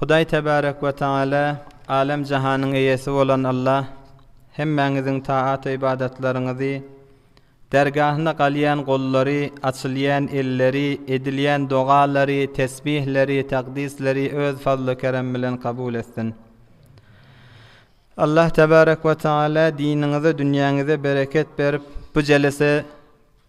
Hudaý Tebärek we Tagala, Älem-jahanyň Eýesi bolan Alla, hemmäňiziň taat-ybadatlaryňyzy, dergahyna galýan gollary, açylýan elleri, edilýän dogalary, tesbihleri, takdisleri Öz fazly-kerem bilen kabul etsin. Allah Tebärek we Tagala diniňize, dünýäňize bereket berip, bu jelese,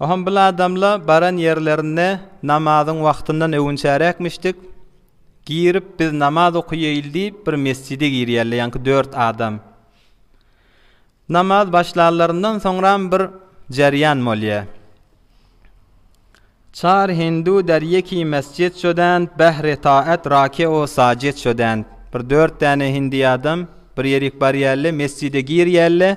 Oňam bil adamla baran ýerlerinde namazyň wagtyndan öwünçärekmişdik, girip biz namaz okaýaýyl diýip bir mesjide girýärler, ýaňky dört adam. Namaz başlanlaryndan soňram bir jerýan bolýa. Çar hindu derýeki mesjid şodänt behre taat rake'o sajid şodänt. Bir dört däne hindi adam bir ýerik barýärler, mesjide girýärler.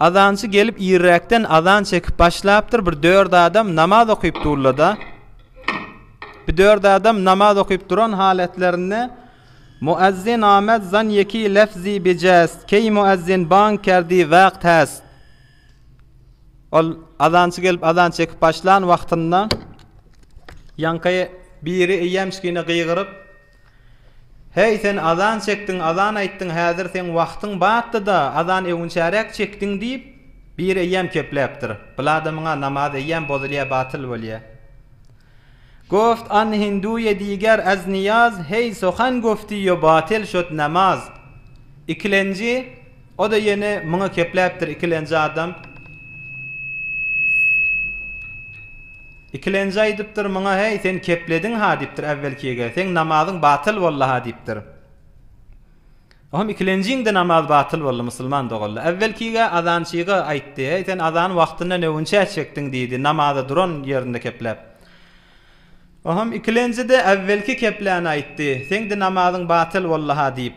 Azançy gelip irräkden azan çekip başlapdyr bir dört adam namaz okyp durlada bir dört adam namaz okyp duran haletlerinde Muezzin amed zan yeki lefzi bi jest key muezzin bang kerdi wagt hest ol azançy gelip azan çekip başlan wagtynda yankaye biri iyemşkine gygyryp Heý, sen azan çekdiň, azan aýtdyň, häzir seň wagtyň batdy-da, azan öwünçäräk çekdiň diýip, bir eýýäm kepläpdir. Biladamyň-a namaz eýýäm bozulýar, batyl bolýar. Goft an hinduýe diger az niýaz, heý, sohan goftiýo batyl şod namaz. Ikilenji. O-da ýene muňa kepläpdir ikilenji adam. Ikilenji aýdypdyr muňa, Häý, sen keplediň-ha, diýipdir äwwelkige, seň namazyň batyl boldy-ha, diýipdir. O hem ikilenjiň-de namazy batyl boldy, musulman dogaldy. Äwwelkige azançyga aýtdy, Häý, sen azany wagtynda neunçä çekdiň, diýdi, namaza duran ýerinde kepläp. O hem ikilenji-de äwwelki kepläni aýtdy, Seň-de namazyň batyl boldy-ha, diýip.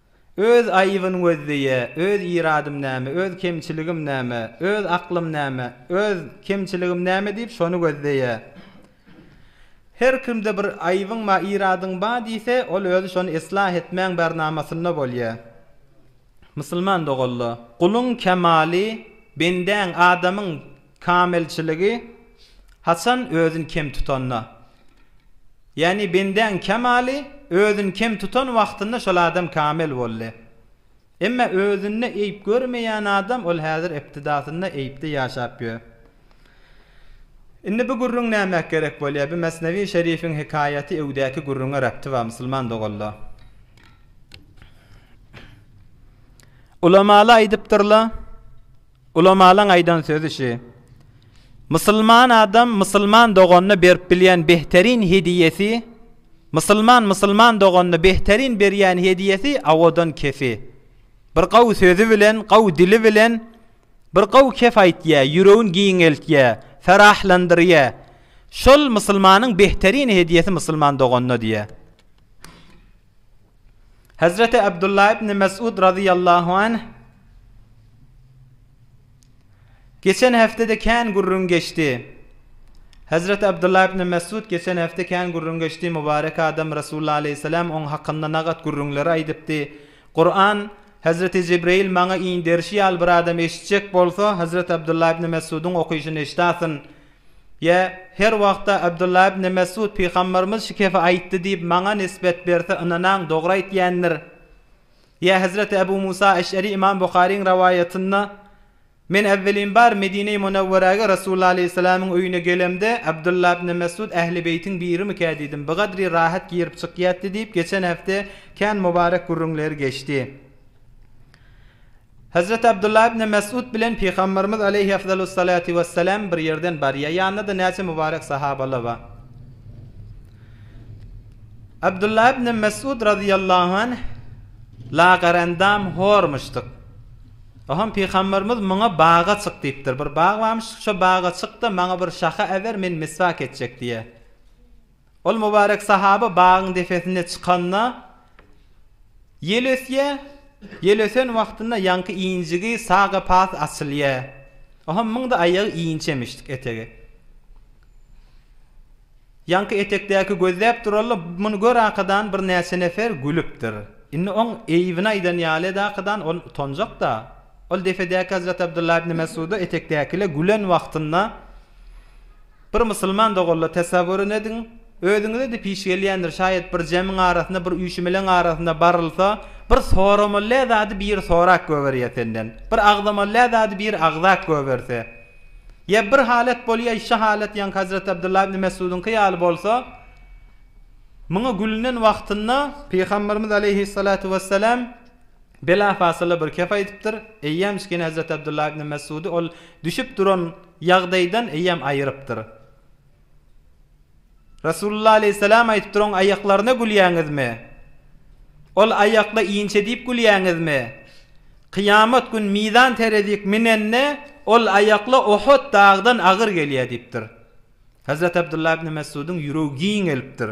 Öz aýybyn gözleýä, öz iradym näme, öz kemçiligim näme, öz aklym näme, öz kemçiligim näme diýip şony gözleýä. Her kimde bir aýybyň ba iradyň ba diýse, ol özi şony eslah etmäň bärnamasynda bolýa. Musulman doganla, guluň kemaly, bendäň, adamyň, Kamilçiligi haçan özün kem tutanda, ýagny bendäň kemaly özün kem tutan wagtynda şol adam kamil boldy. Emma özünde eýip görmeýän adam ol häzir iptidasynda eýipde ýaşap ýör. Indi bu gürrüň näme gerek bolýar? Bu Mesnewi Şerifiň hekaýaty öwdäki gürrüňe rabty bar musulman doganlar. Ulamalar aýdypdyrlar. Ulamalaň aýdan sözi şi. Musulman adam musulman doganyna berip bilýän behterin hediýesi Musulman musulman doganyna behterin berýän hediýesi awadan kefi. Bir gawy sözi bilen, gawy dili bilen bir gawy kep aýtýar, ýüregini giňeltýär, ferahlandyrýar. Şol musulmanyň behterin hediýesi musulman doganyna diýýär. Hezreti Abdullah ibn Mes'ud radiyallahu anh Geçen heftede kän gürrüň geçdi. Hezreti Abdullah ibn Mes'ud geçen hafta kän gürrüň geçdi. Mubarek adam Resulullah aleyhisselam oň hakynda nagat gürrüňleri aýdypdy. Kur'an Hezreti Jibril maňa inderişi ýaly bir adam eşitjek bolsa, Hezreti Abdullah ibn Mes'udyň okyşyny eşdasyn. Ýa, her wagtda Abdullah ibn Mesud pygamberimiz şu gepi aýtdy diýip maňa nisbet berse ynanaň dogry aýtýandyr. Ýa Hazreti Abu Musa Eş'ari Imam Buharyň rawaýatynda, Men äwwelin bar Medine-i Munawwarage Resulullah Aleýhissalamyň öýüne gelemde Abdullah ibn Mesud Ähli beýtiň birimikä diýdim bigadri rahat girip çykýatdy diýip geçen hepde kän mubarek gürrüňleri geçdi. Hezreti Abdullah ibn Mes'ud bilen Pygamberimiz aleýhi efzalus salatu wessalam bir ýerden barýar. Ýanynda-da näçe mübarek sahabalar bar. Abdullah ibn Mes'ud razyýallahu anh lagerendam hormuşdyk. Ohan Pygamberimiz muňa baga çyk diýipdir. Bir bag barmyş, şo baga çyk-da, maňa bir şaha äber, men miswak etjek diýýär. Ol mübarek sahaba bagyň depesine çykanda, ýel ösýär, ýel ösen wagtynda ýaňky injigi, sag gepasy açylýar. Oha müňde aýagy inçe mişdik etegi. Ýaňky etekdäki gözläp durally, muny görakadan birnäçe nefer gülüpdir. Indi oň eýbini aýdan ýaly edakadan ol utanjak-da. Ol depedäki Hezreti Abdullah ibn Mes'uda etekdäkile gülen wagtynda. Bir musulman dogalla tesawwuryn ediň, özüňize de piş gelýändir, şaýat bir jemiň arasynda, bir üýşümeleň arasynda barylsa, bir soramallä zady biri sorap göberýä senden, bir agzamallä zady biri agzap göberse. Ýa bir halat bolýa, şa halat ýaňky Hazreti Abdullah ibn Mesudynky ýaly bolsa, muňa gülünen wagtynda, Pygamberimiz aleýhis salatu wes selam, Belafasylly bir kefa edipdir. Eýýäm Kişkene Hezreti Abdullah ibn Messudy ol düşüp duran ýagdaýdan eýýäm aýyrypdyr. Resulullah aleýhissalam aýdypdyr, Oň aýaklaryna gülýäňizmi? Ol aýakly inçe diýip gülýäňizmi? Kyýamat gün mizan terezik minende, ol aýakly Uhud dagdan agyr gelýär diýipdir. Hezreti Abdullah ibn Messudyň ýüregi giň gelipdir.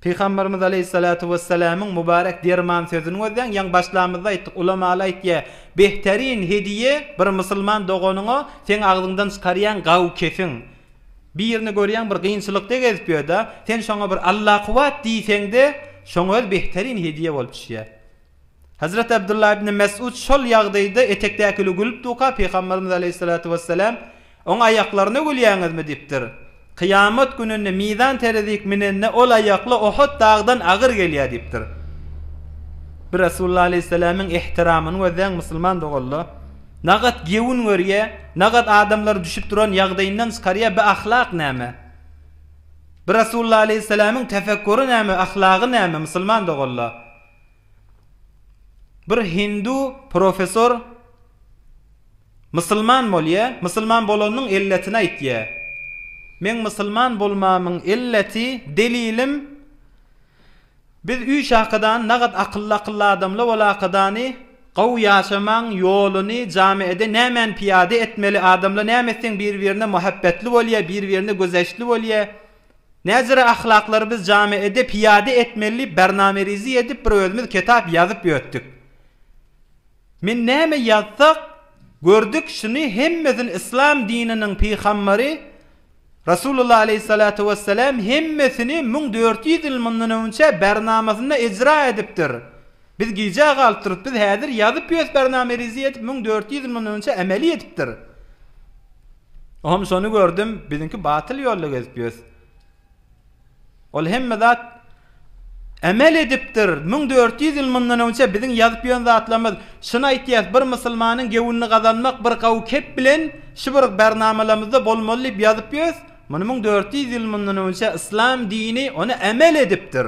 Pygamberimiz aleýhissalatu wessalamyň mubarek derman sözüni gözläň, ýaňy başlamyzda aýtdyk, ulamaly aýtýar, Behterin hediýe bir musulman doganyňa seň agzyňdan çykarýan gawy kesiň. Birini görýäň bir gynçylykda gezip ýörda, sen şoňa bir Allakuwat diýseňde, şoňa öz behterin hediýe bolup düşýär. Hezreti Abdullah ibn Mes'ud şol ýagdaýda etekdäkile gülüp durka Pygamberimiz aleýhissalatu wessalam, Oň aýaklaryna gülýäňizmi? diýipdir. Kyýamat gününde mizan terezik minende ol aýakly Ohut dagdan agyr gelýär diýipdir. Bir Resulullah aleýhissalamyň ihtiramyny gözläň musulman doganlar. Nagat gewün görýär, nagat adamlary düşüp duran ýagdaýyndan çykarýar bi ahlak näme? Bir Resulullah aleýhissalamyň tefekkury näme, ahlagy näme musulman doganlar? Bir hindu professor Musulman bolýa, musulman bolanynyň elletini aýtýa. Meň musulman bolmamyň elleti, delilim, biz üç akydany nagat akylly akylly adamla ol akydany gowy ýaşamaň ýoluny jamiede nämäni piýada etmeli adamla näme etseň bir birine muhabbetli bolýa bir birine gözeçli bolýa. Näzire ahlaklary biz jame edip piýade etmeli diýip barnamerizi edip bir özümiz ketap ýazyp ýötdük. Men näme ýazsak gördük şuny hemmesini yslam dininiň pyhambary Rasulullah aleýhissalatu wessalam hemmesini müň dört ýüz ýyl mundan öňçe barnamasynda ejra edipdir. Biz gijä galyp durus biz häzir ýazyp ýös barnamerizi edip müň dört ýüz ýyl mundan öňçe emeli edipdir. Ohm şony gördüm biziňki batyl ýolda gezip ýös. Ol hemme zat emel edipdir. Müň dört ýüz ýyl mundan öňçe biziň ýazyp ýön zatlarymyz şuny aýtýas bir musulmanyň gewünini gazanmak bir gawy kep bilen şu bir barnamalamyzda bolmaly diýip ýazyp ýös. Muny müň dört ýüz ýyl mundan öňçe yslam dini ony emel edipdir.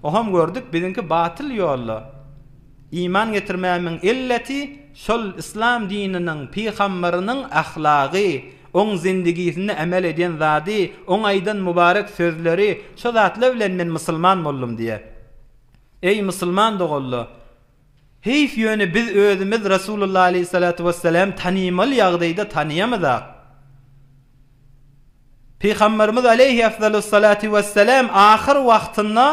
Ohm gördük biziňki batyl ýolda. Iman getirmämiň illeti şol yslam dininiň pygambarynyň ahlagy, oň zindigisinde emel edýän zady, oň aýdan mubarek sözleri, şo zatlar bilen men musulman boldum diýýär. Eý musulman doganlar! Heýf ýöne biz özümiz Resulullah aleýhissalatu wesselämi tanymaly ýagdaýda tanaýamyzak. Pygamberimiz aleýhi efzalus salatu wesselam ahyr wagtynda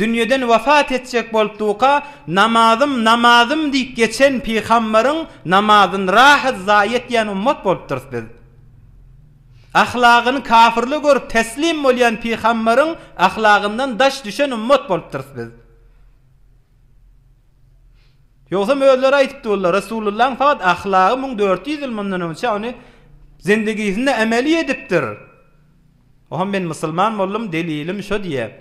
dünýeden wepat etjek bolupduka, Namazym, namazym diýip geçen pygamberiň namazyn rahat zaýa etýän ummat bolupdyrys biz. Ahlagyny kafirler görüp teslim bolýan pygamberiň ahlagyndan daş düşen ummat bolupdyrys biz. Ýogsam özleri aýdypdy bollar, Resulullahyň fakat ahlagy müň dört ýüz ýyl mundan öňçä ony zindigisinde emeli edipdir. Oham men musulman boldum, delilim şo diýip.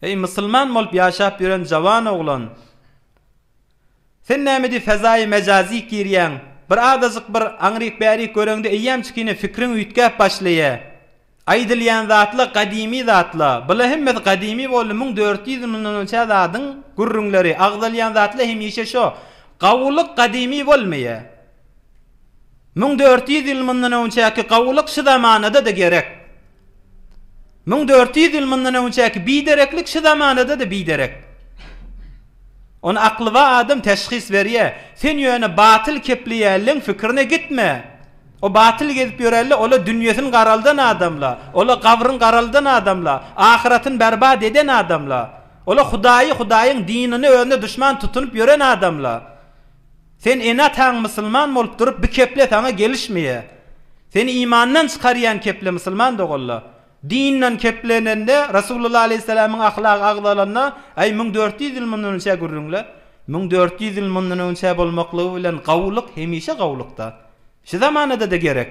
Eý musulman bolup ýaşap ýören jawan oglan! Sen nämedi fezaýy mejazy girýäň, bir azajyk bir aňryk-bärik göreňde eýýämçik ine pikriň üýtgäp başlaýa. Aýdylýan zatla gadymy zatla, bula hemmesi gadymy boldy müň dört ýüz ýyl mundan önçä zadyň gürrüňleri, agzalýan zatla hemişe şo, gawulyk gadymy bolmaýa. Müň dört ýüz ýyl mundan öňçäki gawulyk şu zamanada-da gerek. Müň dört ýüz ýyl mundan öňçäki bidereklik şu zamanada-da biderek. Ony aklybar adam teşhis berýär. Sen ýöne batyl kepleýänleň pikirine gitme. O batyl gezip ýörelle, ol-a dünýesini garaldan adamla, ol-a gabryny garaldan adamla, ahyratyny berbat eden adamla, ol-a Hudaýy, Hudaýyň dinini özüne duşman tutunyp ýören adamla. Sen ene-ataň musulman bolup durup bu keple saňa gelişmeýä. Seni imandan çykarýan keple musulman dogalla. Dinden keplenende Rasulullah aleýhissalamyň ahlagy agzalanda aý müň dört ýüz ýyl mundan önçä gürrüňle. Müň dört ýüz ýyl mundan önçä bolmaklygy bilen gawulyk hemişe gawulykda. Şu zamanada-da gerek.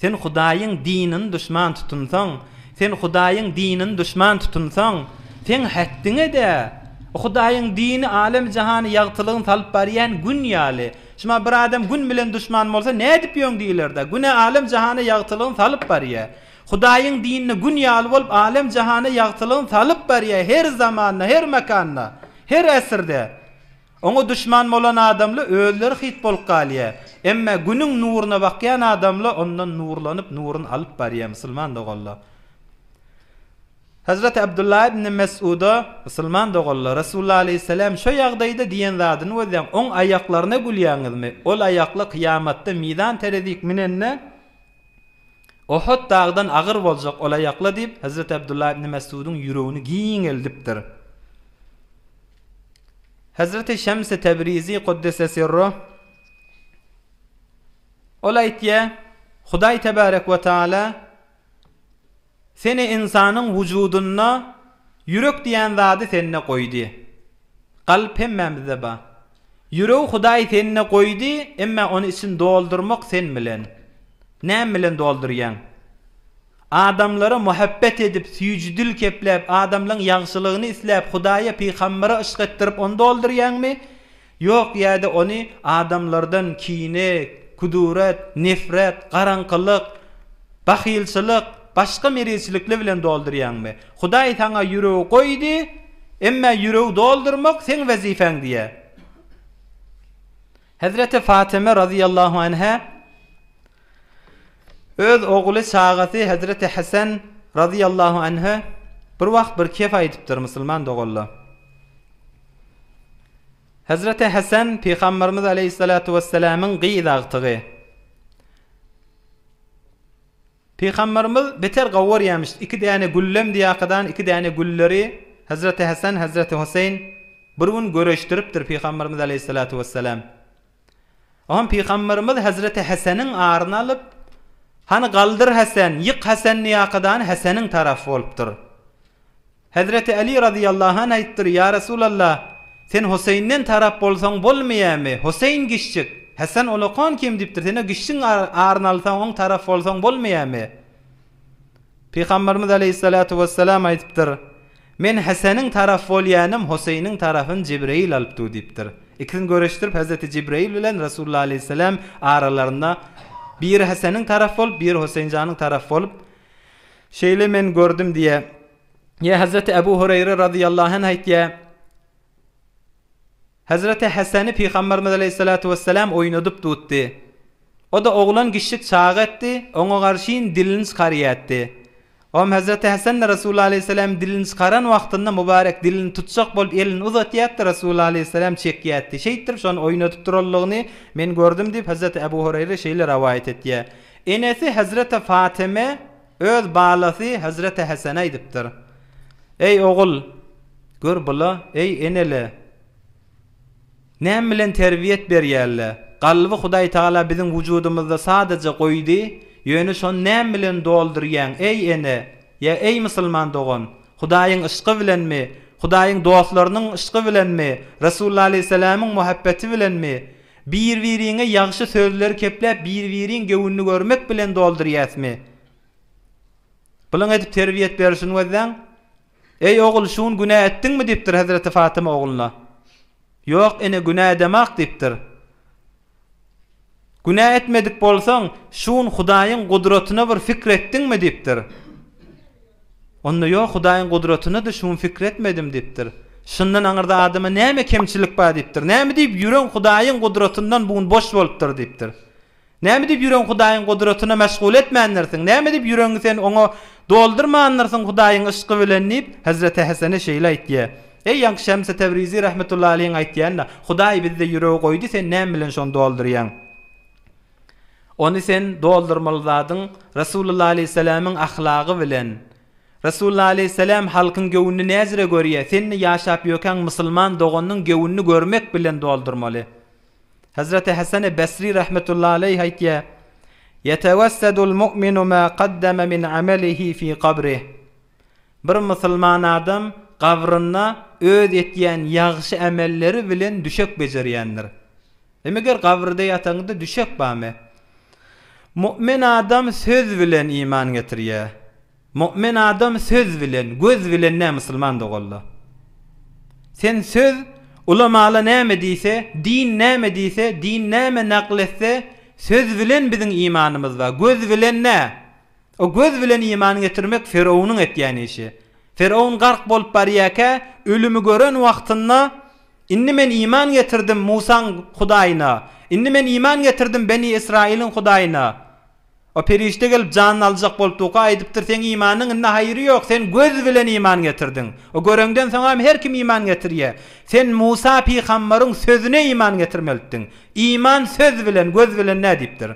Sen Hudaýyň dinini duşman tutunsaň, sen Hudaýyň dinini duşman tutunsaň, seň hetdiňe-de, Hudaýyň dini alem-jahany ýagtylygyny salyp barýan Gün ýaly. Şuma bir adam Gün bilen duşman bolsa, nädip ýöň diýiler-dä? Gün-ä alem-jahana ýagtylygyny salyp barýar. Hudaýyň dinini Gün ýaly bolup, alem-jahana ýagtylygyny salyp barýar, her zamanda, her makanda, her äsirde. Oňa duşman bolan adamla özleri hyt bolup galýar. Emma Günüň nuruna bakýan adamla ondan nurlanyp nuruny alyp barýar musulman doganlar. Hazreti Abdullah ibn Mes'uda, Musulman doganlar, Resulullah aleýhissalam şo ýagdaýda diýen zadyny gözläň, oň aýaklaryna gülýäňizmi? Ol aýakly kyýamatda mizan terezik minende Ohut dagdan agyr boljak ol aýakla diýip, Hazreti Abdullah ibn Mes'udyň ýüregini giňeldipdir. Hezreti Şems-i Tebrizi Kuddise Sirruh Ol aýtýar, Hudaý Tebarek we Taala Seni ynsanyň wujudynda ýürek diýen zady sende goýdy. Kalp hemmämizde bar. Ýüregi Hudaý sende goýdy, emma ony içini doldurmak sen bilen. Näme bilen doldurýaň? Adamlara muhabbet edip, süýji dil kepläp, adamlaň ýagşylygyny isläp, Hudaýa, pygambere yşk etdirip, ony doldurýaňmy? Ýok, ýa-da ony adamlardan kine, kudurat, nefret, garaňkylyk, bahylçylyk, başga merizçilikli bilen doldurýaňmy? Hudaý saňa ýüregi goýdy, emma ýüregi doldurmak seň wezipäň diýýär. Hezreti Fatyma razyýallahu anha. Öz ogly çagasy Hezreti Hesen razyýallahu anhe bir wagt bir kef aýdypdyr musulman dogalla. Hezreti Hesen Pygamberimiz aleýhissalatu wesselamyň gyz agtygy. Pygamberimiz beter gawy görýämiş, iki däne güllem diýakadan iki däne gülleri Hezreti Hesen Hezreti Hoseýn bir gün göreşdiripdir Pygamberimiz aleýhissalatu wesselam. Onam pygamberimiz hezreti Häseniň aryny alyp, Hany galdyr Häsen, ýyk Häsenni ýakadany Häseniň tarapy bolupdyr. Hezreti Äli razyýallahu anh aýtdyr, Ýa Resulalla, sen Hoseýnden tarap bolsaň bolmaýamy? Hoseýn giçjik, Häsen olakan kim diýipdir, sen-ä giçjigiň aryny alsaň, oň tarapy bolsaň bolmaýamy? Pygamberimiz aleýhissalatu wessalam aýdypdyr, Men Heseniň taraf bolýanym Hoseýniň tarafyn Jibreýil alyp du diýipdir. Ikisini görüşdirip Hazreti Jibreýil bilen Resulullah aleýhissalam aralarynda Biri Heseniň taraf bolup, biri Hoseýnjanyň taraf bolup Şeýle men gördüm diýe. Ýa Hazreti Ebu Hureýre razyýallahu anh aýtýa. Hezreti Heseni Pygamberimiz aleýhissalatu wesselam oýnadyp tutdy. O-da oglan kişjik çaga etdi, oňa garşyn dilini çykaryätdi. Om Hezreti Hesen-de Resulullah aleýhissalam dilini çykaran wagtynda mubarek dilini tutjak bolup elini uzatýatdy, Resulullah aleýhissalam çekýätdi. Şeýtdirip şony oýnadyp duranlygyny men gördüm diýip Hezreti Ebu Hureýre şeýle rowaýat etýär. Enesi Hezreti Fatyme. Öz balasy Hezreti Hesene aýdypdyr, Eý, ogul, gör bula, eý, ene-le, näme bilen terbiýet berýär-le? Kalby Hudaý Tagala biziň wujudymyzda sadaja goýdy, ýöne şony näme bilen doldurýaň, eý, ene? Ýa, eý, musulman dogan, Hudaýyň yşky bilenmi, Hudaýyň dostlarynyň yşky bilenmi, Resulullah alaýhyssalamyň muhabbeti bilenmi? Bir-biriňe ýagşy sözleri kepläp bir-biriň göwnüni görmek bilen doldurýasmy? Bulyň edip terbiýet berşini gözläň. Eý ogul şugun günä etdiňmi diýipdir Hezreti Fatyma ogluna. Ýok ene günä edemak diýipdir. Günä etmedik bolsaň şugun Hudaýyň gudratyna bir fikir etdiňmi diýipdir. Onda ýok, Hudaýyň gudratyna-da şu gün pikir etmedim diýipdir. Şundan aňyrda adama näme kemçilik bar diýipdir. Näme diýip ýüregiň Hudaýyň gudratyndan bu gün boş bolupdyr diýipdir. Näme diýip ýüregiň Hudaýyň gudratyna meşgul etmändirsiň, näme diýip ýüregiňi sen oňa doldurmandyrsyň Hudaýyň yşky bilen diýip, Hezreti Hesene şeýle aýtýa. Eý ýaňky Şemsi Tebrizi rahmetullahi aleýhiň aýtýanyna, Hudaý bizde ýüregi goýdy, sen näme bilen şony doldurýaň? Ony sen doldurmaly zadyň Resulullah aleýhissalamyň ahlagy bilen. Resulullah aleýhissalam halkyň göwnüni näzire görýä, senni ýaşap ýökäň musulman doganynyň göwnüni görmek bilen doldurmaly. Hazreti Hasane Basri rahmetullahi aleýh aýtýa, Ýetewessedul mu'minu ma gaddama min amelihi fi gabrih. Bir musulman adam gabrynda öz etýän ýagşy amelleri bilen düşek bejerýändir. Hem eger gabrde ýataňda düşek bamy? Mu'min adam söz bilen iman getirýä. Mu'min adam söz bilen, göz bilen nä musulman dogalla. Sen söz, ulamala näme diýse, din näme diýse, din näme nakl etse, söz bilen biziň imanymyz bar, göz bilen nä? O göz bilen iman getirmek Firawunyň etýän işi. Firawun gark bolup barýarkä, ölümi gören wagtynda, Indi men iman getirdim Musaň Hudaýyna. Indi men iman getirdim Beni Ysraýylyň Hudaýyna. O perişde gelip janyny aljak bolup durka aýdypdyr, Seň imanyň indi haýry ýok, sen göz bilen iman getirdiň. O göreňden soňam her kim iman getirýär. Sen Musa pygambaryň sözüne iman getirmelitdiň. Iman söz bilen, göz bilen dä diýipdir.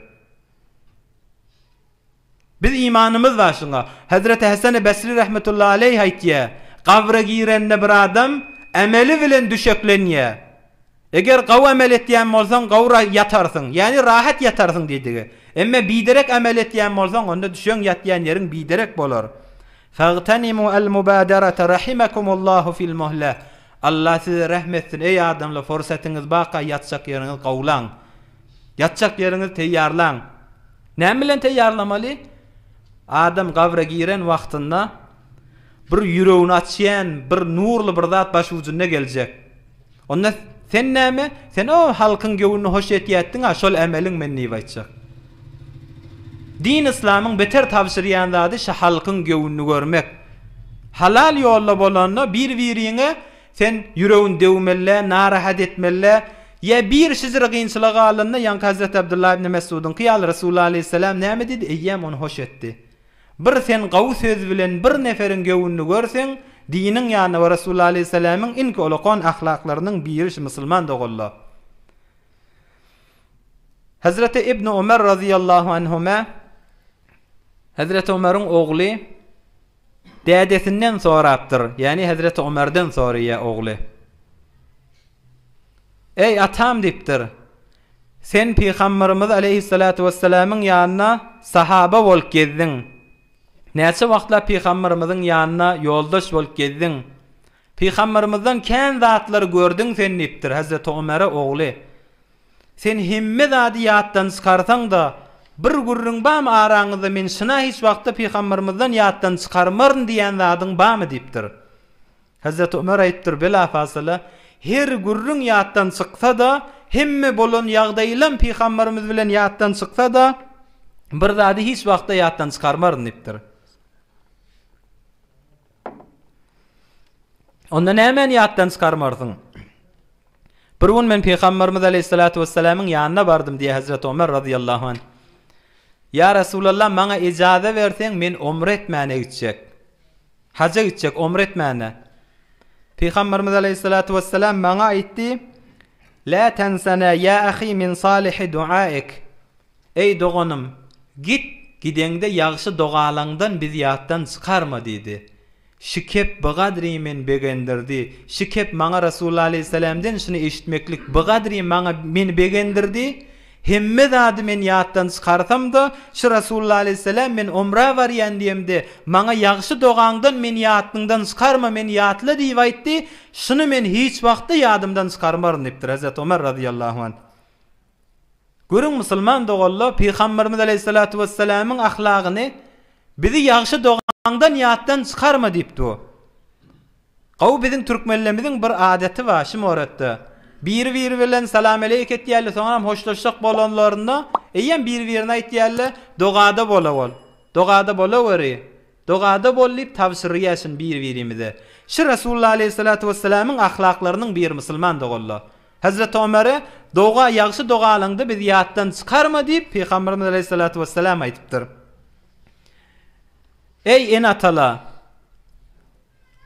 Biz imanymyz bar şuňa. Hezreti Heseni Besri rahmetullahi aleýh aýtýar, Gabra girende bir adam emeli bilen düşeklenýär. Eger gawy emel etýän bolsaň gawr ýatarsyň, ýagny rahat ýatarsyň diýdigi. Emme biderek emel etýän bolsaň onda düşeň ýatýan ýeriň biderek bolar. Fagtanimu al mubadarata rahimakumullahu fil muhla. Allah size rahm etsin eý adamlar forsatyňyz barka ýatjak ýeriňiz gawlaň. Ýatjak ýeriňizi teýýarlaň. Näme bilen teýýarlamaly? Adam gabra giren wagtynda bir ýüregini açýan bir nurly bir zat başujunda geljek. Onda sen näme? Sen o halkyň göwnüni hoş etýätdiň-a, şol ämeliň men diýip aýtjak. Din yslamyň beter tabşyrýan zady şo halkyň göwnüni görmek. Halal ýolda bolanda bir-biriňe Sen ýüregini döwmeli-le, narahat etmeli-le. Ýa bir şijir gynçylyga galanda, ýaňky Hazreti Abdullah ibn Mesgudyňky ýaly, Resulullah aleýhissalam näme diýdi, eýýäm ony hoş etdi. Bir sen gawy söz bilen bir neferiň göwnüni görseň, diniň ýanyna we Resulullah aleýhissalamyň iňki olakan ahlaklarynyň biri şu musulman doganla. Hazreti Ibn Ömer razyýallahu anhuma, Hazreti Ömeriň ogly, Dädesinden sorapdyr, ýagny hezreti Omerden soraýar ogly. Eý, atam diýipdir, sen pygamberimiz aleýhissalatu wessalamyň ýanynda sahaba bolup gezdiň. Näçe wagtlap pygamberimiziň ýanynda ýoldaş bolup gezdiň. Pygamberimizden kän zatlary gördüň sen diýipdir hezreti Omere ogly. Sen hemme zady ýatdan çykarsaň-da, bir gürrüň bamy araňyzda men şyna hiç wagtda pygambarymyzdan ýatdan çykarmaryn diýen zadyň bamy diýipdir. Hezreti Ömer aýypdyr, Belafasala, her gürrüň ýatdan çyksa-da, hemme bolan ýagdaýlam pygambarymyz bilen ýatdan çyksa-da, bir zady hiç wagtda ýatdan çykarmaryn diýipdir. Onda nämäni ýatdan çykarmarsyň? Bir gün men Pygamberimiz aleýhissalatu wessalamyň ýanyna bardym diýýär Hezreti Omer razyýallahu anh. Ýa Resulallah, maňa ejaza berseň, men omra etmäne gitjek. Haja gitjek, omra etmäne. Pygamberimiz aleýhissalatu wessalam maňa aýtdy, Lä tensena ýa ahi min salihi duaik. Eý, doganym, git, gideňde ýagşy dogalaňdan bizi ýatdan çykarma diýdi. Şikep bigadri meni begendirdi. Şikep maňa Resulullah aleýhissalamden şuny eşitmeklik bigadri maňa meni begendirdi, Hemme zady men ýatdan çykarsam-da, şu Resulullah aleýhissalam men omra barýan diýemde, maňa ýagşy dogaňdan meni ýatnyňdan çykarma, meni ýatla diýip aýtdy, şuny men hiç wagtda ýadymdan çykarmaryn diýipdir. Hezreti Omar razyýallahu anh. Görüň musulman doganlar pygamberimiz aleýhissalatu wessalamyň ahlagyny bizi ýagşy dogaňdan ýatdan çykarma diýip dur. Gowy biziň türkmenlerimiziň bir adaty bar şu moratda. Biri biri bilen salam aleýk etýärler soňam hoşlaşjak bolanlarynda eýýäm biri birine aýtýarlar dogada bola bol. Dogada bolaweri. Dogada bol diýip tabşyryýaşyn bir-birimize. Şu Resulullah aleýhissalatu wessalamyň ahlaklarynyň biri musulman dogalla. Hazreti Omere, Doga ýagşy dogalaňda bizi ýatdan çykarma diýip Pygamberimiz aleýhissalatu wessalam aýdypdyr. Eý ene-atalar!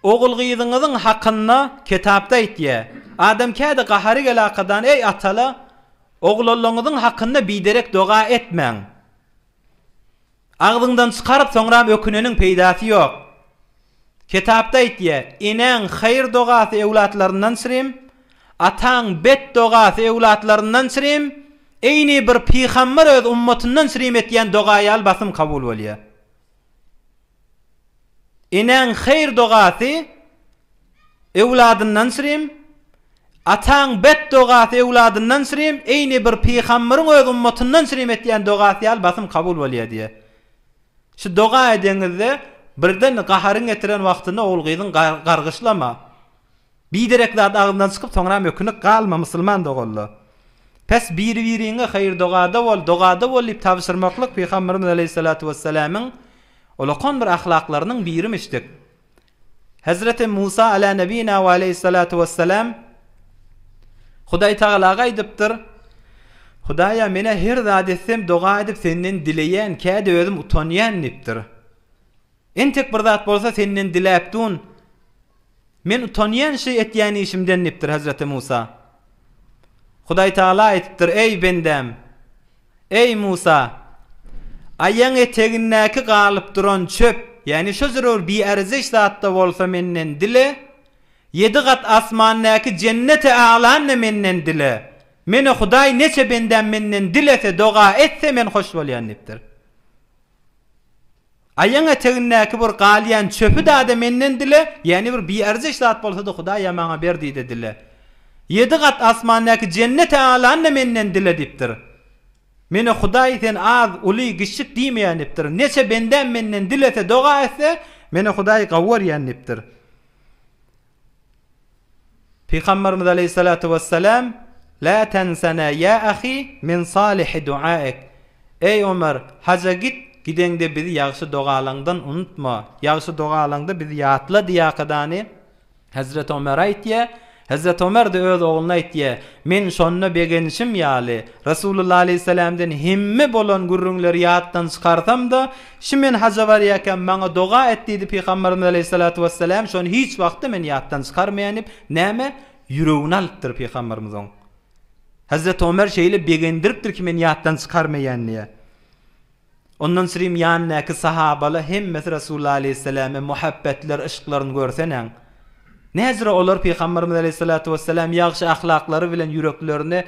Ogul-gyzyňyzyň hakynda Ketapda aýtýa, Adam kädi gahary gelakadan eý atalar! Oglalaňyzyň hakynda biderek doga etmäň. Agzyňdan çykaryp soňram öküneniň peýdasy ýok. Ketapda aýtýa, Enäň haýyr dogasy öwlatlaryndan çirim, ataň bet dogasy öwlatlaryndan çirim, eýni bir pygamber öz ummatyndan çirim etýän doga ýaly basym kabul bolýa. Enäň haýyr-dogasy öwladyndan sürem, ataň bet-dogasy öwladyndan sürem eýni bir pygambyryň öz ummatyndan sürem etýän dogasy ýaly basym kabul bolýar diýýär. Şu doga edeňizde birden gaharyň getiren wagtynda ogul-gyzyň gargyşlama. Biderek zat agzyndan çykyp soňra mökünik galma musulman doganlar. Pes biri biriňe haýyr dogada bol dogada bol diýip tabşyrmaklyk pygamberimiz aleýhissalatu wessalamyň ulakan bir ahlaklarynyň birimişdik. Hezreti Musa ala nebina we aleýhissalatu wessalam Hudaý tagalaga aýdypdyr, Hudaýa menä her zat etsem doga edip senden dileýän käde özüm utanýan diýipdir. Entek bir zat bolsa senden diläp dun, Men utanýan şy etýän işimden dipdir Hezreti Musa. Hudaý Tagala aýdypdyr, Eý, bendäm! Eý, Musa! Aýagyň etegindäki galyp duran çöp, ýagny şo zerur biärzeş zat-da bolsa menden dile, ýedi gat asmandäki Jenneti A'lany-da menden dile. Menä Hudaý neçe bendäm menden dilese, doga etse men hoş bolýan dipdir. Aýaň etegindäki bir galýan çöpi dada menden dile, ýäni bir biarzyş zat bolsa-da Hudaýa maňa ber diýde dile. Ýedi gat asmandaky jenneti alany-da menden dile diýipdir. Menä Hudaý sen az, uly, giçjik diýmeýän diýipdir. Neçe bendäm menden dilese, doga etse, menä Hudaý gawy görýän diýipdir. Pygamberimiz aleýhissalatu wessalam, Lä tensena ýa ahy min salyhy duaik, Eý Omar, haja git, gideňde bizi ýagşy dogalaňdan unutma, ýagşy dogalaňda bizi ýatla diýakadany Hezreti Omara aýtýa, Hezreti Omar-da öz ogluna aýtýa, Men şonda begenişim ýaly, Resulullah aleýhissalamdan hemme bolan gürrüňleri ýatdan çykarsam-da, Şu men haja barýarkäm, maňa doga et diýdi Pygamberimiz aleýhissalatu wesselam, şony hiç wagtda men ýatdan çykarmaýan diýip, näme, ýüregine alypdyr Pygamberimiz oň. Hazreti Omer şeýle begendiripdir ki men ýatdan çykarmaýan diýe. Ondan syrym ýanyndaky sahabala hemmesi Resulullah aleýhissalame muhabbetler, yşklaryny görsenäň. Näzire olar Pygamberimiz aleýhissalatu wesselam ýagşy ahlaklary bilen ýüreklerini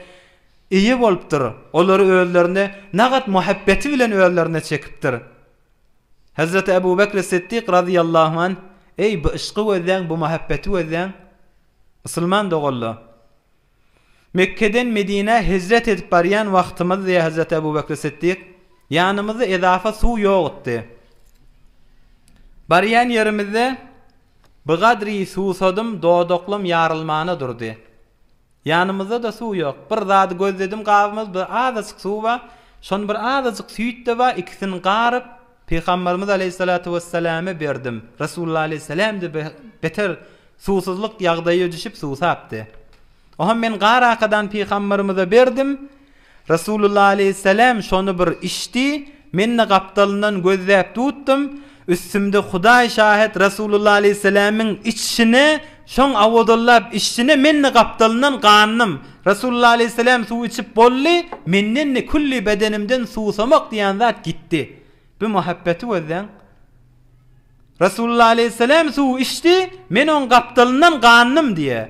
Eýe bolupdyr, olary özlerine nagat muhabbeti bilen özlerine çekipdir. Hezreti Ebu Bekri Siddik razyýallahu anh, Eý, bu yşky gözläň, bu muhabbeti gözläň! Musulman doganlar! Mekgeden Medinä hijret edip barýan wagtymyz, diýýär Hezreti Ebu Bekri Siddik, ýanymyzda edafa suw ýogutdy. Barýan ýerimizde, bigadri suwsadym, dodaklam ýarylmana durdy. Ýanymyzda-da suw ýok. Bir zady gözledim gabymyzda azajyk suw bar, şony bir azajyk süýt-de bar, ikisini garyp, Pygamberimiz aleýhissalatu wessalame berdim. Resulullah aleýhissalam-da beter suwsuzlyk ýagdaýa düşüp suw tapdy. Oňam men garakadan Pygamberimize berdim. Resulullah aleýhissalam şony bir içdi, men-de gapdalyndan gözläp tutdum, üstümde Hudaý şahyt Resulullah aleýhissalamyň içişine, şoň awadallap içişine men-de gapdalyndan gandym. Resulullah aleýhissalam suw içip boldy, menden-de külli bedenimden suwsamak diýen zat gitdi. Bu muhabbeti gözläň! Resulullah aleýhissalam suwy içdi, men oň gapdalyndan gandym diýýär.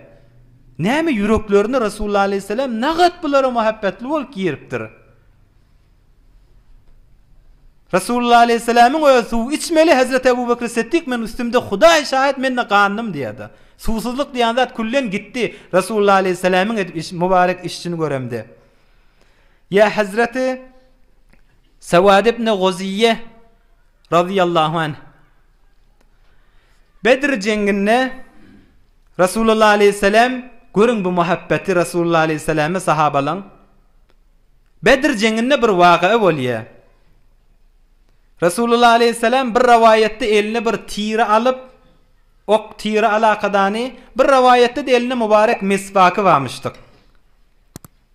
Näme ýüreklerine Resulullah aleýhissalam nagat bulara muhabbetli bolup giripdir. Resulullah aleýhissalamyň özi suw içmeli Hezreti Ebu Bekr Siddik men üstümde Hudaý şahyt mende gandym diýýärdi. Suwsuzlyk diýen zat küllen gitdi Resulullah aleýhissalamyň edip iş mubarek işini göremde. Ýa Hezreti Sewad ibn Goziýe Razyýallahu anh, Bedr jeňňinde Resulullah aleýhissalam, görüň bu muhabbeti Resulullah aleýhissalama sahabalaň. Bedr jeňňinde bir wagya bolýar. Resulullah aleýhissalam bir rawaýatda eline bir tiri alyp, ok tiri alakadany, bir rawaýatda-da elinde mubarek meswaky barmyşdyk.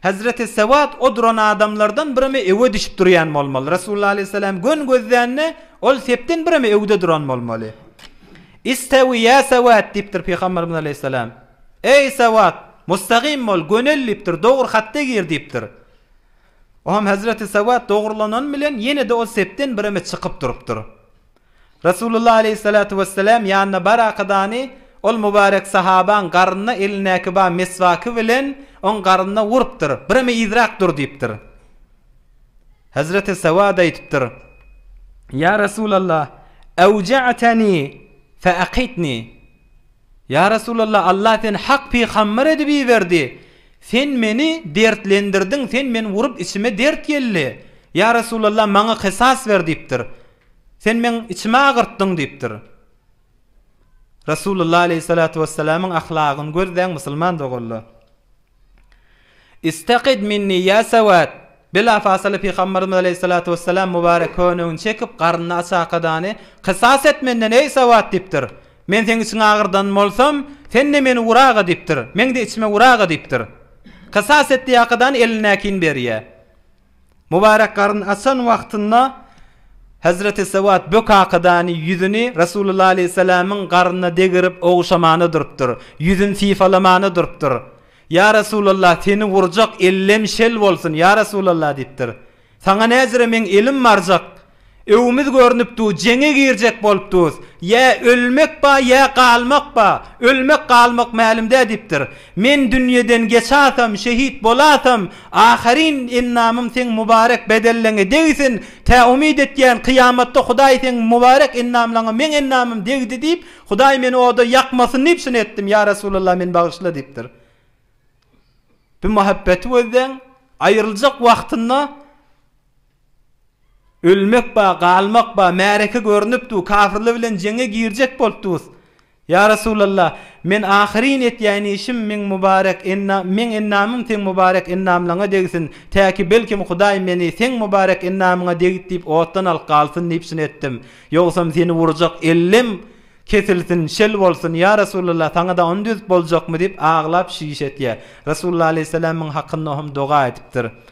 Hezreti Sewat o duran adamlardan birimi ewe düşüp durýan bolmaly. Resulullah aleyhisselam gön gözlände ol sepden birimi ewde duran bolmaly. İstewi ýa Sewat diýipdir Pygamberimiz aleyhisselam. Eý Sewat! Mustagim bol, gönel diýipdir, dogry hatda gir diýipdir. Oňam Hezreti Sewat dogrulanany bilen ýene-de ol sepden birimi çykyp durupdyr. Resulullah aleýhissalatu wessalam ýanyna bar akydany ol mubarek sahabaň garnyna elindäki ba meswaky bilen oň garnyna urupdyr, bireme yzrak dur diýipdir. Hazreti Sawada aýdypdyr, Ýa Resulallah, awja'tani fe aqitni. Ýa Resulallah, Allah seni hak pygamber edip iberdi, sen meni dertlendirdiň, sen meni urup içime dert geldi. Ýa Resulallah, maňa kysas ber diýipdir. Sen meň içimi agyrtdyň diýipdir. Resulullah aleýhissalatu wessalamyň ahlagyny gözläň musulman doganlar. Istaqid minni ýa sawat. Bila fasyly pygambarymyz aleýhissalatu wessalam mubarek könegini çekip garnyny açakadany kysas et menden eý sawat diýipdir. Men seň içiňi agyrdan bolsam, sen-de meni uraga diýipdir. Meň-de içime uraga diýipdir. Kysas et diýakadany elindäkini berýär. Mubarek garyn açan wagtynda Hezreti Sewat bu kakadany ýüzüni Resulullah aleýhissalamyň garyna degerip oguşamana durupdyr. Ýüzün syfalamana durupdyr. Ýa Resulallah, seni wurjak ellem şel bolsun, ýa Resulallah diýipdir. Saňa näzire meň elim barjak. Öwümiz görnüp du, jeňe girjek bolup dus. Ýa ölmek ba, ýa galmak ba. Ölmek, galmak mälim dä diýipdir. Men dünýeden geçasam, şehit bolasam, ahyryn endamym seň mubarek bedelleňe degsin. Tä umyt etýän, kyýamatda Hudaý seň mubarek endamlaňa meň endamym degdi diýip, Hudaý meni oda ýakmasyn diýip şuny etdim. Ýa Resulallah, meni bagyşla diýipdir. Bu muhabbeti gözleň, aýryljak wagtynda. Ölmek ba, galmak ba, märeke görnüpdu, kafirler bilen jeňe girjek bolupdyrys. Ýa Resulalla, men ahyryn etýän işim meň mubarek ennam, meň ennamym seň mubarek ennamlaňa degsin, täki belkim Hudaý meni seň mubarek ennamyňa degit diýip otdan alyp galsyn diýip syn etdim. Ýogsam seni urjak ellim kesilsin, şel bolsun, ýa Resulalla, saňa-da ony düzüp boljakmy diýip aglap şiş etýär. Resulalla alaýhyssalam muň hakynda ohm doga edipdir.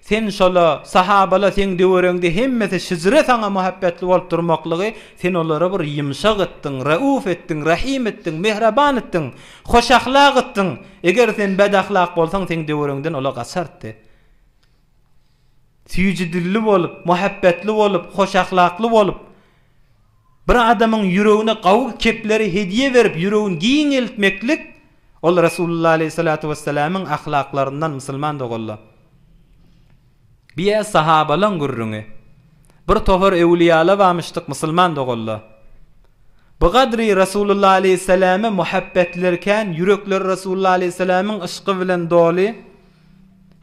Sen şola, sahabala seň döwereňde hemmesi şijre saňa muhabbetli bolup durmaklygy sen olara bir ýymşak etdiň, reuf etdiň, rahim etdiň, mehraban etdiň, hoş ahlak etdiň. Eger sen bedahlak bolsaň seň döwereňden ola gaçardy. Süýji dilli bolup, muhabbetli bolup, hoş ahlakly bolup Bir adamyň ýüregine gawy kepleri hediýe berip, ýüregini giňeltmeklik, ol Resulullah aleýhi salatu wessalamyň ahlaklaryndan, musulman doganlar. Bu ýer sahabalaň gürrüňi. Bir topar öwlüýala barmyşdyk, musulman doganlar. Bu gadry Resulullah aleýhi salama muhabbetlerkän, ýürekleri Resulullah aleýhi salamyň yşky bilen doly.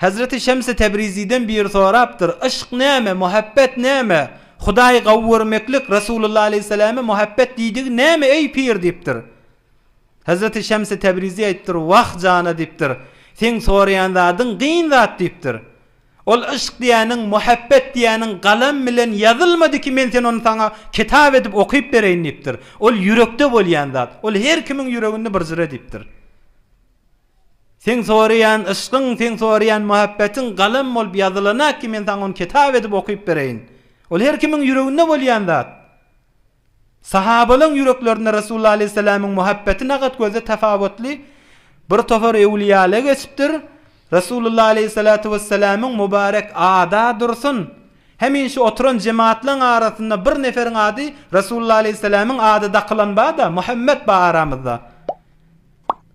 Hezreti Şems-i Tebriziden biri sorapdyr, Yşk näme, muhabbet näme? Hudaýy gawy görmeklik, Resulullah aleýhissalamy muhabbet diýdigi näme, eý, pir? diýipdir. Hezreti Şems-i Tebrizi aýdypdyr, Wah, jana, diýipdir, seň soraýan zadyň gyn zat, diýipdir. Ol yşk diýýäniň, muhabbet diýýäniň galam bilen ýazylmady ki, men sen ony saňa kitap edip okyp bereýin, diýipdir. Ol ýürekde bolýan zat. Ol her kimiň ýüreginde bir jyra, diýipdir. Seň soraýan yşkyň, seň soraýan muhabbetiň galam bolup ýazylana ki men saňa ony kitap edip okyp bereýin. Ol her kimiň ýüreginde bolýan zat. Sahabalaň ýüreklerinde Resulullah aleýhissalamyň muhabbeti nagat gözde tapawutly bir topar öwliýala geçipdir. Resulullah aleýhissalatu wessalamyň mubarek ada dursun. Hemişe oturan jematlaň arasynda bir neferiň ady Resulullah aleýhissalamyň ady dakylan bada Muhammet ba aramyzda.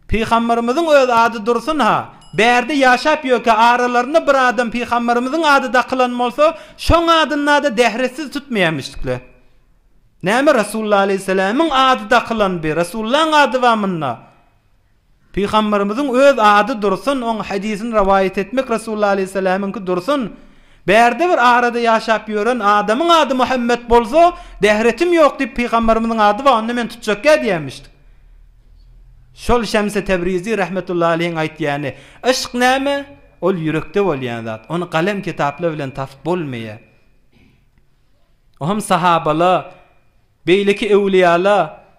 Pygamberimiziň öz ady dursun-ha, bärde ýaşap ýörkä aralarynda bir adam pygamberimiziň ady dakylan bolsa, şoň adyna-da dähretsiz tutmaýarmyşdykle. Näme Resulullah aleýhissalamyň ady dakylanby, Resulullaň ady bar munda. Pygamberimiziň öz ady dursun, oň hadysyny rowaýat etmek Resulullah aleýhissalamyňky dursun, bärde bir arada ýaşap ýören adamyň ady Muhammet bolsa, dähretim ýok diýip pygamberimiziň ady bar onda men tutjakýa diýýärmişdik. Şol Şemsi Tebrizi rahmetullahi aleýhiň aýtýany, Yşk näme? Ol ýürekde bolýan zat. Ony galem kitaplar bilen tapyp bolmaýar. O hem sahabala, beýleki öwlüýala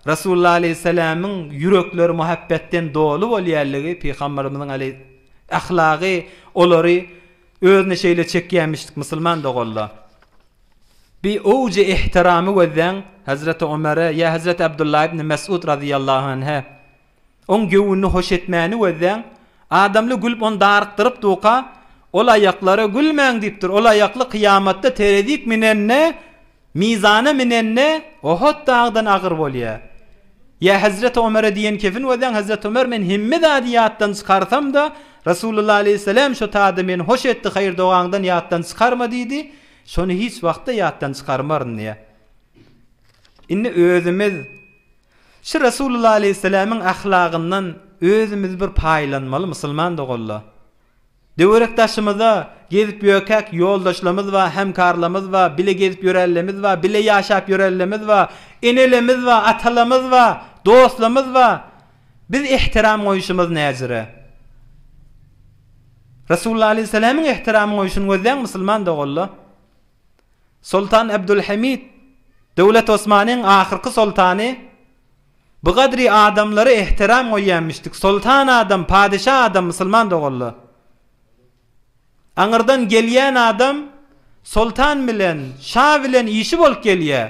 Resulullah aleýhissalamyň ýürekleri muhabbetden doly bolýarlygy, Pygamberimiziň aleý ahlagy olary özüne şeýle çekýärmişdik, musulman doganlar. Bi owjy ehtiramy gözläň, Hezreti Omere ýa Hezreti Abdullah ibn Mes'ud razyýallahu anhe. Oň göwünini hoş etmäni gözläň, adamly gülüp ony darykdyryp duka, ol aýaklara gülmäň diýipdir, ol aýakly kyýamatda terezik minende, mizana minende Ohot dagydan agyr bolýa. Ýa Hezreti Omere diýen kefin gözläň, Hezreti Omer men hemme zady ýatdan çykarsamda, Resulullah aleyhisselam şo tada meni hoş etdi, haýyr dogaňdan ýatdan çykarma diýdi, Şony hiç wagtda ýatdan çykarmaryn diýýä. Indi özümiz şu Resulullah aleýhissalamyň ahlagyndan özümiz bir paýlanmaly musulman doganlar. Töwerek daşymyza gezip ýörkäk ýoldaşlarymyz bar, hemkarlarymyz bar, bile gezip ýörenlerimiz bar, bile ýaşap ýörenlerimiz bar, enelerimiz bar, atalarymyz bar, dostlarymyz bar. Biz ähtiram goýuşymyz näzire. Resulullah aleýhissalamyň ähtiram goýuşyny gözleýän musulman doganlar, Soltan Abdulhamid, Döwlet Osmanyň ahyrky soltany, Bu gadry adamlara ähtiram goýýanmişdik, soltan adam, padeşa adam musulman doganlar. Aňyrdan gelýän adam soltan bilen, şa bilen işi bolup gelýär.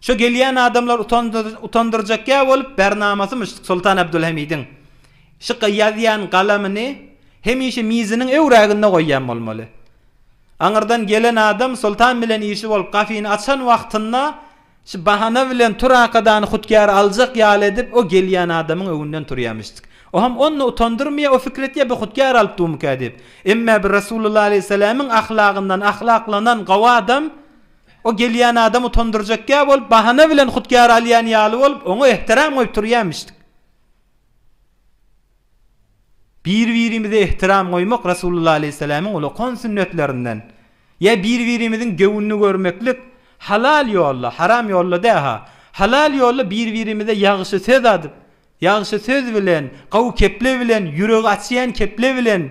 Şu gelýän adamlar utandyrjak ýa bolup bärnamasymyş Soltan Abdulhamidiň şu ýazýan galamyny hemişe miziniň öwräginde goýýan bolmaly. Aňyrdan gelen adam Soltan bilen işi bolup gafyny açan wagtynda şu bahana bilen Tur akadany hutgäre aljak ýaly edip o gelýän adamyň öňünden turýamyş. Oham onda utandyrmyýa o fikir etýä bu hutgär alyp dumukä diýip. Emmä bir Rasulullah aleyhisselamyň ahlagyndan ahlaklanan gawy adam O gelýän adam utandyrjakýa bolup, bahana bilen hutgär alýan ýaly bolup, oňa ehtiram goýup turýamyşdyk. Bir-birimize ehtiram goýmak Resulullah aleýhissalamyň ulokan sünnetlerinden. Ýa bir-birimiziň göwnüni görmeklik, halal ýolla, haram ýolla dä-ha, halal ýolla bir-birimize ýagşy söz adyp, ýagşy söz bilen, gowy keple bilen, ýüregi açýan keple bilen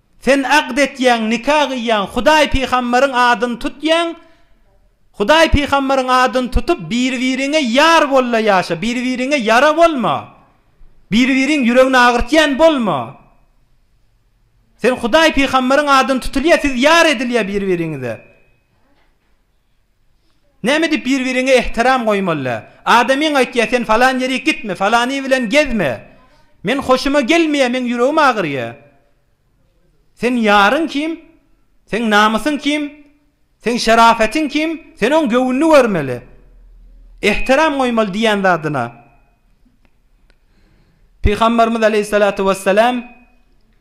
Sen akt etýäň, nika gyýýaň, Hudaý pygamberiň adyny tutýaň, Hudaý pygamberiň adyny tutup, bir-biriňe ýar bol-da ýaşa, bir-biriňe ýara bolma, bir-biriň ýüregini agyrtýan bolma. Sen Hudaý pygamberiň adyny tutulýa, siz ýar edilýä bir-biriňize. Näme diýip bir-biriňe ehtiram goýmaly? Adamyň aýtýar, sen falan ýere gitme, falany bilen gezme. Men hoşuma gelmeýär, meň ýüregim agyrýar. Seň ýaryň kim? Seň namysyň kim? Seň şerafetiň kim? Sen oň göwnüni görmeli. Ehtiram goýmaly diýýän zadyna. Pygamberimiz aleýhissalatu wessalam.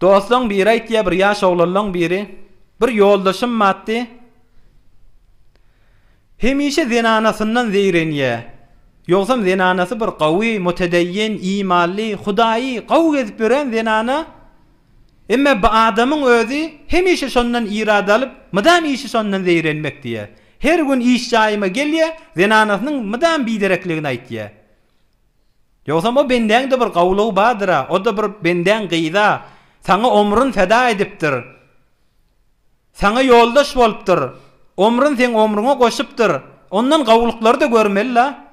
Doslaň biri aýtýar, bir ýaş oglanlaň biri, Bir ýoldaşym batdy. Hemişe zenanasyndan zeýrenýä. Ýogsam zenanasy bir gawy, mutedeýin, imanly, Hudaýy gawy gezip ýören zenana. Emma bu adamyň özi hemişe şondan irad alyp, mydam işi şondan zeýrenmek diýýär. Her gün iş jaýyma gelýär, zenanasynyň mydam biderekligini aýtýar. Ýogsam o bendäň-de bir gawlugy bardyr-a, o-da bir bendäň gyz-a, saňa omrun feda edipdir, saňa ýoldaş bolupdyr, omrun seň omruňa goşupdyr, ondan gawlyklary-da görmeli-la.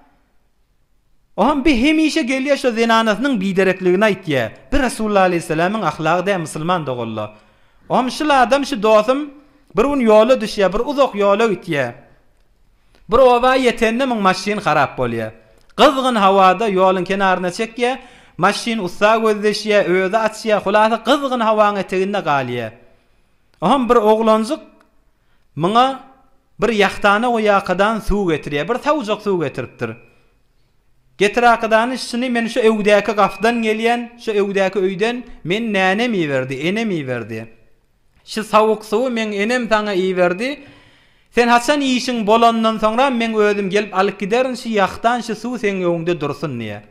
Oham bi hemişe gelýä şo zenanasynyň biderekligini aýtýä. Bi Resulullah aleýhisselamyň ahlagy dä musulman doganlar. Oham şul adam, şu dosym bir gün ýola düşýä, bir uzak ýola gitýä. Bir oba ýetende muň maşyn harap bolýar. Gyzgyn howada ýoluň kenaryna çekýär, maşyn ussa gözleşýär, özi açýar, hulasa gyzgyn howaň eteginde galýar. Oham bir oglanjyk muňa bir ýahtana guýakadan suw getirýär. Bir sawjak suw getiripdir. Getirakadany şuny men şu öwdäki gapdan gelýän, şu öwdäki öýden men nänem iberdi, enem iberdi. Şu sowuk suwy meň enem saňa iberdi. Sen haçan işiň bolanyndan soňra meň özüm gelip alyp giderin şu ýahdan şu suw seň öňüňde dursun diýýär.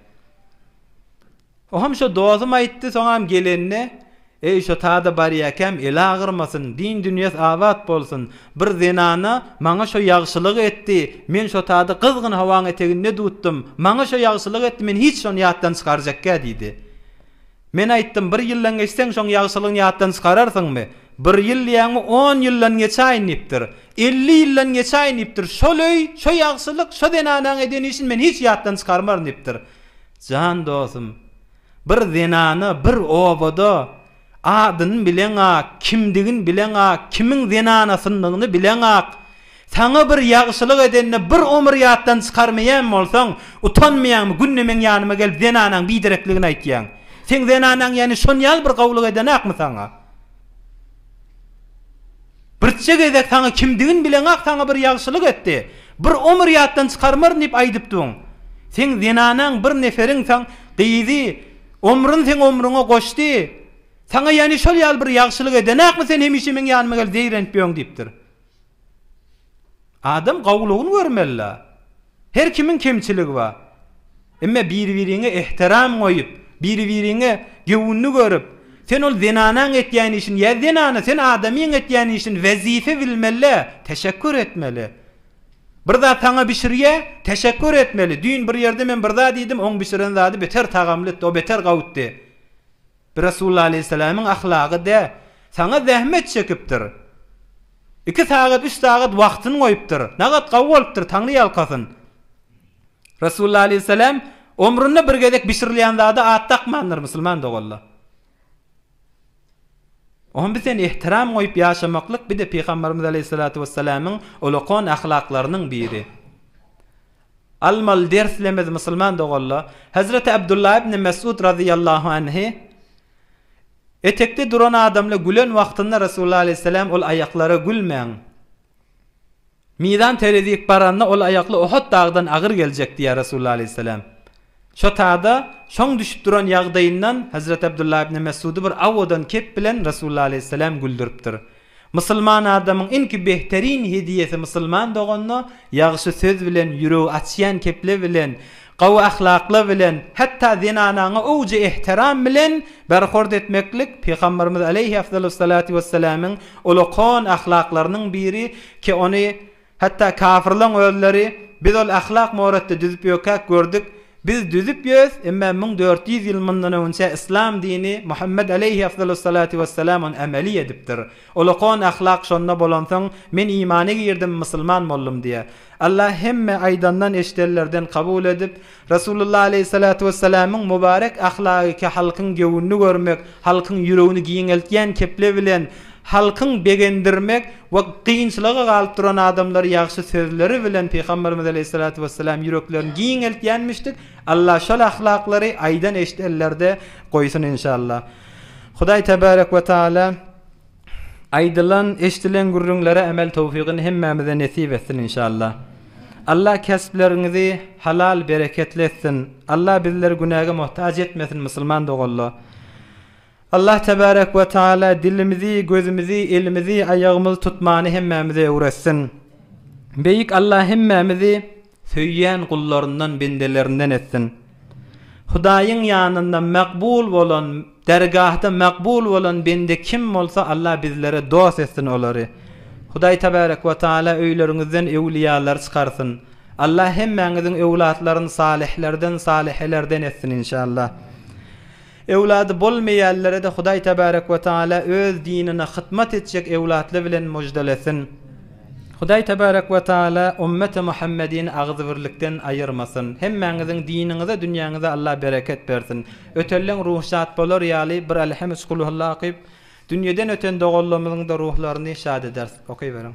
Oham şo dosum aýtdy soňam gelende Eý şo tada barýakäm eli agyrmasyn din dünýes abat bolsun bir zenana maňa şo ýagşylygy etdi men şo tada gyzgyn howaň eteginde dutdym maňa şo ýagşylygy etdi men hiç şony ýatdan çykarjakkä diýdi. Men aýtdym, bir ýyldan geçseň, şoň ýagşylygyňy ýatdan çykararsyňmy? Bir ýyl diýýäňmi, on ýyldan geçäýin diýipdir. Elli ýyldan geçäýin diýipdir. Şol öý, şo ýagşylyk, şo zenanaň eden işini men hiç ýatdan çykarmaryn diýipdir. Jan dostum, bir zenana bir obada adyny bileňak, kimdigini bileňak, kimiň zenanasyndygyny bileňak, Saňa bir ýagşylyk edende bir omur ýatdan çykarmaýan bolsaň, utanmaýaňmy, günde meň ýanyma gelip zenanaň biderekligini aýtýaň? Seň zenanaň ýany şonýaly bir gowulyk edenakmy saňa? Birçe gezek saňa kimdigini bileňak saňa bir ýagşylyk etdi, bir omur ýatdan çykarmaryn diýip aýdypdybyn. Seň zenanaň bir neferiň saň gyýdy, omrun seň omruňa goşdy, saňa ýany şol ýaly bir ýagşylyk edenakmy sen hemişe meň ýanyma gelip zeýrenip ýöň diýipdir. Adam gowulygyny görmelidä. Her kimiň kemçiligi bar. Emma bir-biriňe ähtiram goýup, bir-biriňe göwünli görüp, sen ol zenanaň etýän işini ýa zenana sen adamyň etýän işini wezipe bilmelidä, teşekgür etmeli. Bir zat saňa bişirýä, teşekgür etmeli. Düýn bir ýerde men bir zat iýdim, oň bişiren zady beter tagamlytdy, o beter gawutdy. Bir Resulullah aleýhissalamyň ahlagy dä, saňa zähmet çekipdir. Iki sagat, üç sagat wagtyny goýupdyr. Nagat gawy bolupdyr, Taňry ýalkasyn. Resulullah aleýhissalam omrunda bir gezek bişirilýän zada at dakmandyr, musulman doganlar. Oňa biz sen ehtiram goýup ýaşamaklyk bir-de Pygamberimiz aleýhissalatu wessalamyň ulakon ahlaklarynyň biri. Almaly derslemez musulman doganlar, Hezreti Abdullah ibn Mesud razyýallahu anhy, Etekde duran adamla gülen wagtynda Resulullah aleyhisselam ol aýaklara gülmäň. Mizan terezik baranda ol aýakly Uhud dagdan agyr geljek diýýär Resulullah aleyhisselam. Şo tada, şoň düşüp duran ýagdaýyndan Hezreti Abdullah ibni Messudy bir awodan kep bilen Resulullah aleýhisselam güldüripdir. Musulman adamyň iňki behteryn hediýesi musulman doganyna ýagşy söz bilen, ýüregi açýan kepler bilen, gowy ahlaklar bilen, hatda zenanaňa owjy ehtiram bilen berhord etmeklik Pygamberimiz aleýhi afdalussalatu wesselamyň ulakan ahlaklarynyň biri ki ony Hatda kafirleň özleri, Biz ol ahlak moratda düzüp ýökäk gördük, Biz düzüp ýös, emma müň dört ýüz ýyl mundan öňçä yslam dini Muhammet aleýhi afzalussalatu wessalam ony ameli edipdir. Olakon ahlak şonda bolansoň, men imana girdim, musulman boldum diýýär. Allah hemme aýdandan-eşidenlerden kabul edip, Resulullah aleýhissalatu wessalamyň mubarek ahlagyki halkyň göwnüni görmek, halkyň ýüregini giňeltýän kepli bilen halkyň begendirmek we kynçylyga galyp duran adamlary ýagşy sözleri bilen Pygamberimiz aleýhissalatu wessalam ýüreklerini giňeltýänmişdik, Allah şol ahlaklary aýdan-eşidenlerde goýsun inşallah. Hudaý tebarek we taala. Aýdylan, eşdilen gürrüňlere emel towfygyny hemmämize nesip etsin inşallah. Allah kespleriňizi halal bereketli etsin. Allah bizleri günäge muhtaç etmesin musulman doganlar. Allah tebarek we taala dilimizi, gözümizi, elimizi, aýagymyzy tutmany hemmämize öwretsin. Beýik Allah hemmämizi Söýýän gullaryndan bendelerinden etsin. Hudaýyň ýanynda makbul bolan, dergahda makbul bolan bende kim bolsa Allah bizlere dost etsin olary. Hudaý Tebarek we Taala öýleriňizden öwliýalary çykarsyn. Allah hemmäňiziň öwlatlaryny salihlerden, salihelerden etsin inşallah. Öwlady bolmaýanlara-da Hudaý Tebarek we Tagala Öz dinine hytmat etjek öwlatly bilen müjdelesin. Hudaý Tebarek we Tagala Ummeti Muhammedini agzybirlikden aýyrmasyn. Hemmäňiziň diniňize, dünýäňize Allah bereket bersin. Ötenleň ruhy şat bolar ýaly bir Elhem üç Kulhulla okyp, dünýeden öten doganlarymyzyň-da ruhlaryny şat ederis. Okyberiň.